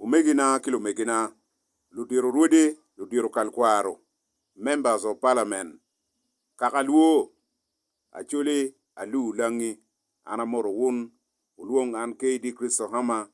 Omegina ki lumegina, ludito rwode, ludito kalkwaro, Members of Parliament, kaka lwo, Acholi, Aluu Langi, an amoto wun, wulwong an KD Christo Hama,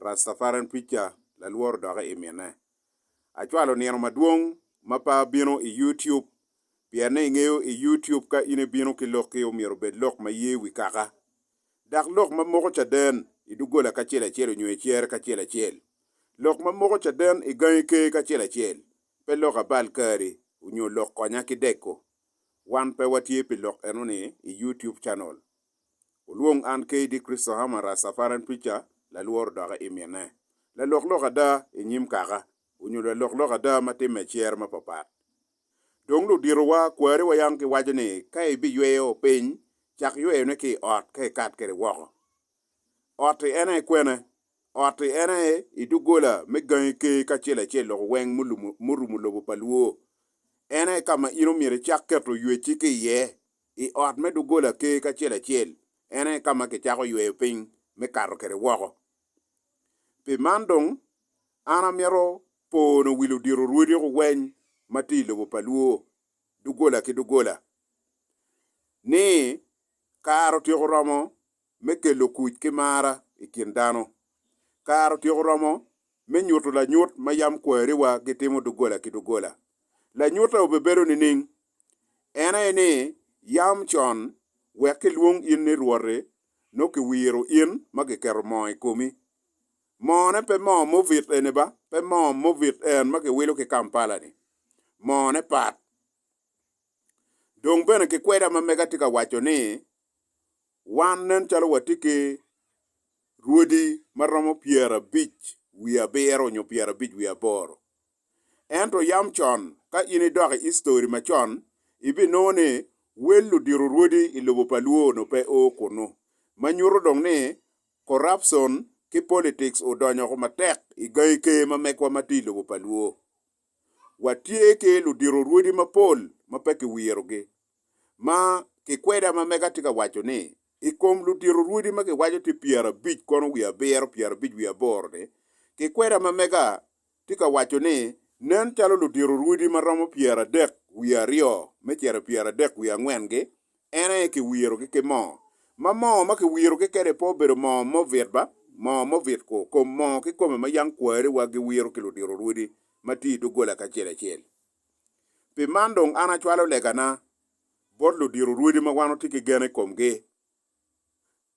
Rastafarian Preacher, lalworo doki i mine. Acwalo nino madwong ma pe abino i YouTube, pienne ingeyo i YouTube ka in ibino ki lokki omyero obed lok ma ye wi kaka, dok lok ma moko caden i doggola kacel acel onyo i cere kacel acel, lok ma moko caden i gangi ker kacel acel, pe lok abal kari onyo lok konya ki deko. Wan pe watye pi lok enoni i YouTube channel. Olwong an KD Christohammer Rastafarian Preacher lalworo doki i mine, lalok lok ada i nyim kaka, onyo lalok lok ada ma timme i cere ma papat. Dong luditowa kwari wa yam giwaco ni ka ibiyweyo piny, cak yweyone ki i ot ka ikat kwede woko. Ot-ti en aye kwena? Ot-ti en aye i doggola me gangi ker kacel acel loko weng murumo lobo pa Luo. En aye ka ma in omyero icak keto ywecci ki iye. I ot me doggola ker kacel acel, en aye ka ma kicako yweyo piny me kato kwede woko. Pi man dong, an amito Po onongo wil odito rwodi ku weny ma tye i lobo pa Luo doggola ki doggola ni kare otyeko romo me kelo kuc ki mar i kin dano. Kare otyeko romo me nyuto lanyut ma yam kwariwa gitimo doggola ki doggola. Lanyutte obibedo nining? En aye ni yam con wek kilwong in ni Rwot-ti, nongo kiwiro in ma kiketo moo i komi. Moo ne pe moo movit eni ba, pe moo movit en ma kiwilo ki Kampala ni. Moo ne pat. Dong bene kikweda ma mega tye ka waco ni wan nen calo watye ki rwodi ma romo pyerabic wiye abiro nyo pyerabic wiye aboro. Ento yam con ka in idok i history macon ibinongo ni wel ludiro rwodi i lobo pa Luo onongo pe o kunu. Ma nyuto dong ni Corruption ki politics odonyo ko matek i gangi ker ma megwa ma tye i lobo pa Luo. Watye ki ludito rwodi mapol ma pe kiwirogi. Ma kikweda ma mega tye ka waco ni, i kom ludito rwodi ma kiwaco tye pyerabic kono wiye abiro, pyerabic wiye aboro-ni, kikweda ma mega tye ka waco ni, Nen calo ludiro rwodi ma romo pyeradek wiye aryo me cito i pyeradek wiye angwen-gi, en aye kiwirogi ki moo, ma moo ma kiwirogi kwede pe obedo moo mobit ba, moo mobit-ku kom moo kikome ma yam kwariwa giwiro ki ludiro rwodi ma tye i doggola kacel acel. Pi man dong an acwalo legana bot ludiro rwodi ma wan watye ki gen i komgi,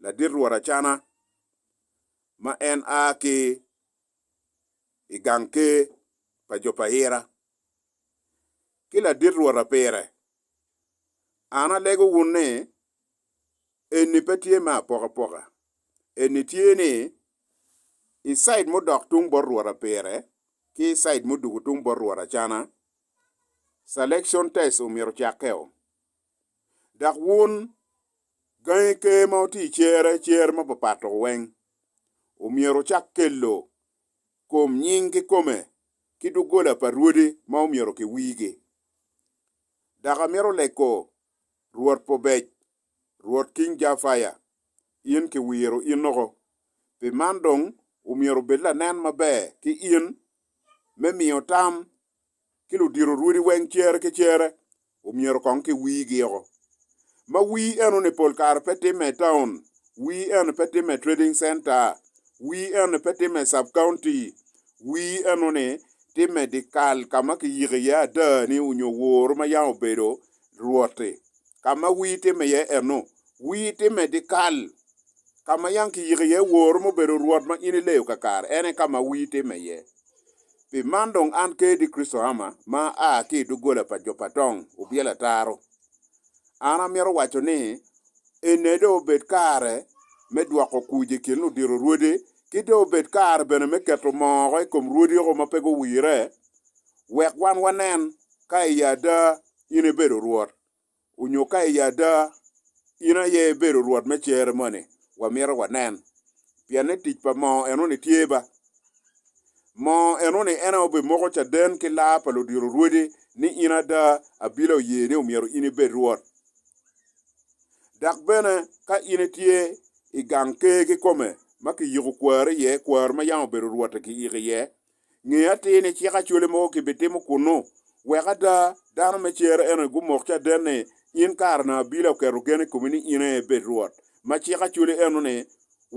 ladit rwot Acana, ma en a ki i gang ker pa jo pa Hira, ki ladit rwota pire, an alego wun ni, Eni pe tye me apokapoka, eni tye ni i cid mudok tung bot rwota pire ki i cid muduku tung bot rwota cana, selection test omyero ocakke-o. Dok wun, gangi ker ma wutye i cere, cer ma papat-tu weng, omyero wucak kelo kom nying kikome ki doggola pa rwodi ma omyero kiwirgi. Dok amito leko Rwot Pubec, Rwot King Jafaya, in kiwiro in oko, pi man dong omyero obed lanen maber ki in me miyo tam ki ludito rwodi weng cere ki cere omyero kong ki wigi o. Ma wii eno ni pol kare pe timme i town, wii eno ni pe timme i trading center, wii eno ni pe timme i sub county, wii eno ni timme di kal ka ma ki yiki iye ada ni onyo woro ma yang obedo rwoti. Ka ma wii timme iye eno, wii timme di kal ka ma yang ki yiki iye woro ma obedo rwot ma in ileyo kakare, en aye ka ma wii timme iye. Pi man dong an kadi Kricito Hammer ma aa ki i doggola pa jo pa tong obyelo ataro, an amito waco ni ene dong obed kare me dwoko kuc i kin ludito rwodi, ki dong obed kare bene me keto moo oko i kom rwodiko ma pe guwire, wek wan wanen ka i ada in ibedo Rwot. onyo ka i ada in aye ibedo Rwot me cere moni wamito wanen, pien ni tic pa moo enoni tye ba. Moo enoni en aye obimoko caden ki laa pa ludiro rwodi ni in ada abila oye ni omyero in ibed Rwot. Dok bene ka in itye i gang ker kikome ma kiyiko kwari iye, kwari ma yam obedo Rwotte kiyiko iye, Nge atir ni cik acwale mogo kibitimo kunnu, wek ada dano me cer eno-ni gumok caden-ni, in kare na abila oketo gen i komi ni in aye ibed Rwot. Ma cik acwale eno-ni,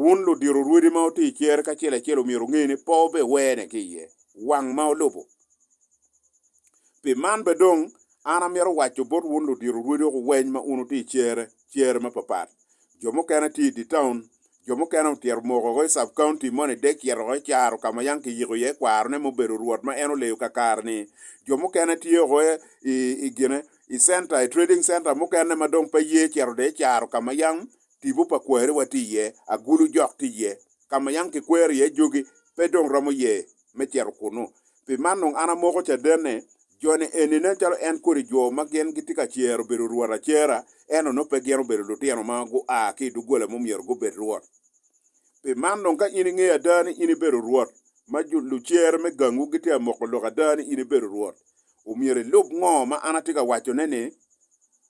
wun ludiro rwodi ma wutye i cer-ri kacel acel omyero wunge ni pe wubiwene ki iye, wang ma wulubo. Pi man bene dong an amito waco bot wun ludito rwodi woko weny ma un wutye i cere cere mapapat. Jo mukene tye i dye taun, jo mukene otyero moko woko i sub-county moni dek cito woko i caro ka ma yam kiyiko iye kwarone me obedo rwot ma en oleyo kakare-ni. Jo mukene tye woko i gine, i center, i trading center mukene ma dong pe ye cito dong i caro ka ma yam tipo pa kwariwa tye iye, agulu jok tye iye, ka ma yam kikwero iye jogi pe dong romo ye me cito kunnu. Pi man dong an amoko caden ni, joni eni nen calo en kodi jo ma gin gitye ka cero obedo rwot acera, ento nongo pe gin obedo lutino ma gua ki i doggola ma omyero gubed rwot. Pi man dong ka in ingeyo ada ni in ibedo rwot, ma lucer me gangwu gitye ka moko lok ada ni in ibedo rwot, omyero ilub ngo ma an atye ka wacone-ni.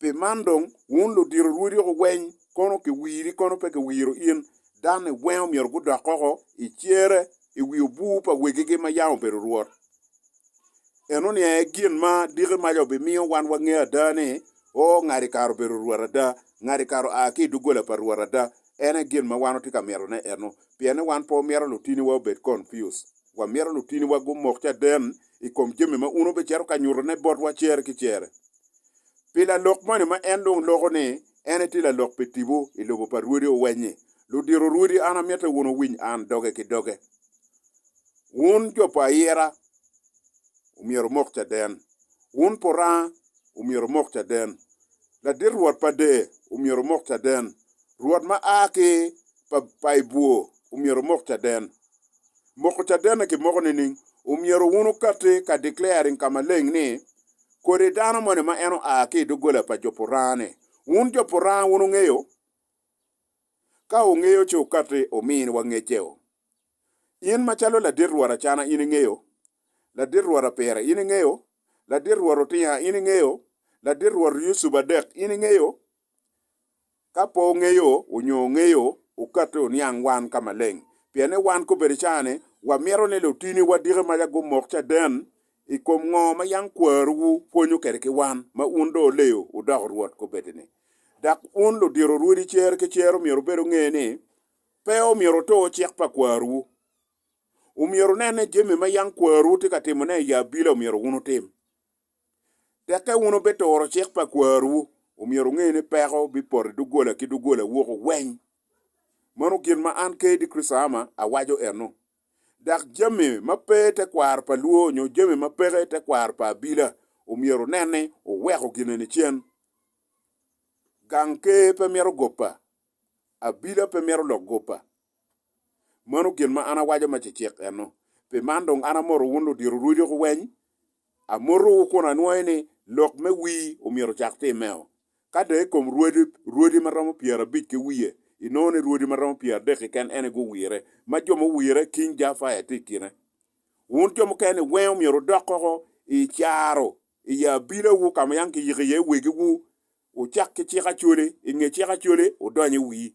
Pi man dong, wun ludito rwodoku weny, kono kiwiri kono pe kiwiro in, danni weng omyero gudok oko i cere i wi obur pa wegigi ma yam obedo rwot. Enoni aye gin ma diki maca obimiyo wan wangeyo ada ni, o, ngati kare obedo rwot ada, ngati kare oa ki i doggola pa rwot ada. En aye gin ma wan watye ka mitone eno, pien ni wan pe wamito lutiniwa obed confused. Wamito lutiniwa gumok caden i kom jami ma un obicito ka nyutone botwa cere ki cere. Pi lalok moni ma en dong loko ni en etye lalok pi tipo i lobo pa Rwodi Owenyi, ludito Rwodi an amitte wun owiny an doge ki doge. Wun jo pa ayira omyero omok caden. Wun puranga omyero omok caden. Ladit Rwot pa de omyero omok caden. Rwot ma a ki pa pa i bwor omyero omok caden. Moko caden-ni kimoko nining? Omyero wun okatti ka declaring ka maleng ni kodi dano moni ma en oa ki i doggola pa jo Purane. Wun jo Purane wun wungeyo? Ka wungeyo ci wukati wuminiwa ngecceo. In macalo ladit rwot acana in ingeyo? Ladit rwot Apira in ingeyo? Ladit rwot Otinga in ingeyo? Ladit rwot Yucuba Dek in ingeyo? Ka pe wungeyo nyo wungeyo, wukati wuniang wan ka maleng, pien ni wan kobedi cani wamito ni lutini wadiki maca gumok caden i kom ngo ma yam kwaruwu pwonyo kwede ki wan, ma wun dong wuleyo wudoko Rwot kobedini. Dok wun ludito rwodi cer ki cer omyero wubed wunge ni, pe omyero wutur cik pa kwaruwu. Omyero wunen ni jami ma yam kwaruwu tye ka timone i abila omyero wun wutim. Dok ka wun wubituro cik pa kwaruwu, omyero wunge ni peko bipoto i doggola ki doggola woko weng. Mano gin ma an Kayde Christama awaco eno. Dok jami ma pe tekwaro pa lwor nyo jami ma peke tekwaro pa abila omyero wunen ni wuweko gin eni cen. Gang ker pe mito gopa. Abila pe mito lok gopa. Mano gin ma an awaco ma cecek eno. Pi man dong an amoto wun ludiro rweco ki weny, amotowu kun anwoyo ni lok me wii omyero ocak timmeo. Ka dong i kom rwodi, rwodi ma romo pyerabic ki wiye, inongo ni rwodi ma romo pyeradek keken ene guwire, ma jo muwire King Jafaya tye i kine. Wun jo mukene-ni weng omyero wudok koko i caro i i abilawu ka ma yang kiyiko iye wegiwu, wucak ki cik Acholi, i nge cik Acholi wudony i wii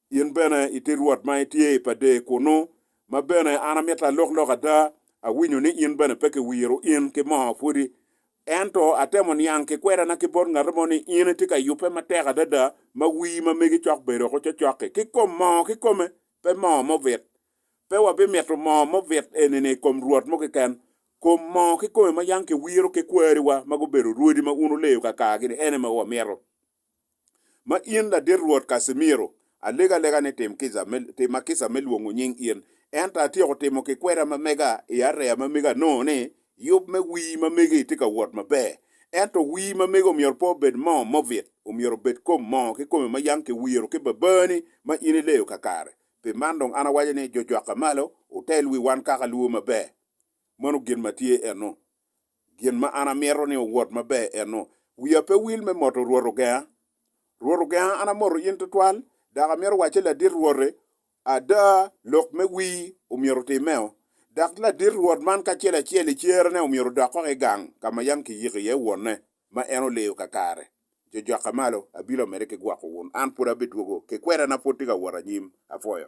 in bene iti Rwot ma itye i Pader kunnu, ma bene an amito alok lok ada, awinyo ni in bene pe kiwiro in ki moo pwodi. Ento atemo niang ki kwedana ki bot ngati mo ni in itye ka yubbe matek adada ma wii ma megi cok bedo woko cocoki ki kom moo kikome, pe moo mubit. Pe wabimito moo mubit eni-ni i kom rwot mo keken. Kom moo kikome ma yam kiwiro ki kwariwa ma gubedo rwodi ma un wuleyo kakagi-ni, en aye ma wamito. Ma in ladit Rwot Casimiro, alegalega ni tim kica me, tima kica me lwongo nying in. Ento atyeko timo ki kweda ma mega i areya ma mega anongo ni yub me wii ma megi tye ka wot maber. Ento wii ma megi omyero pe obed mo mobit, omyero obed kom mo kikome ma yang kiwiro ki babani ma in ileyo kakare. Pi man dong an awaco ni jo jwakke malo, wutel wi wan kaka luwo maber. Mano gin ma tye eno. Gin ma an amito ni owot maber ennu, wiya pe wil me moto Rwot ogenga. Rwot ogenga, an amoto in twatwal, dok amito wacce ladit Rwote, ada, lok me wir omyero otimmeo. Dok ladit Rwot man kacel acel i cerene omyero odok koko i gang ka ma yam kiyiko iye wonne ma en oleyo kakare. Jojoka malo, abilo mede ki gwoko wun, an pud abidwogo, kikwedana pud tye ka wot anyim. Apwoyo.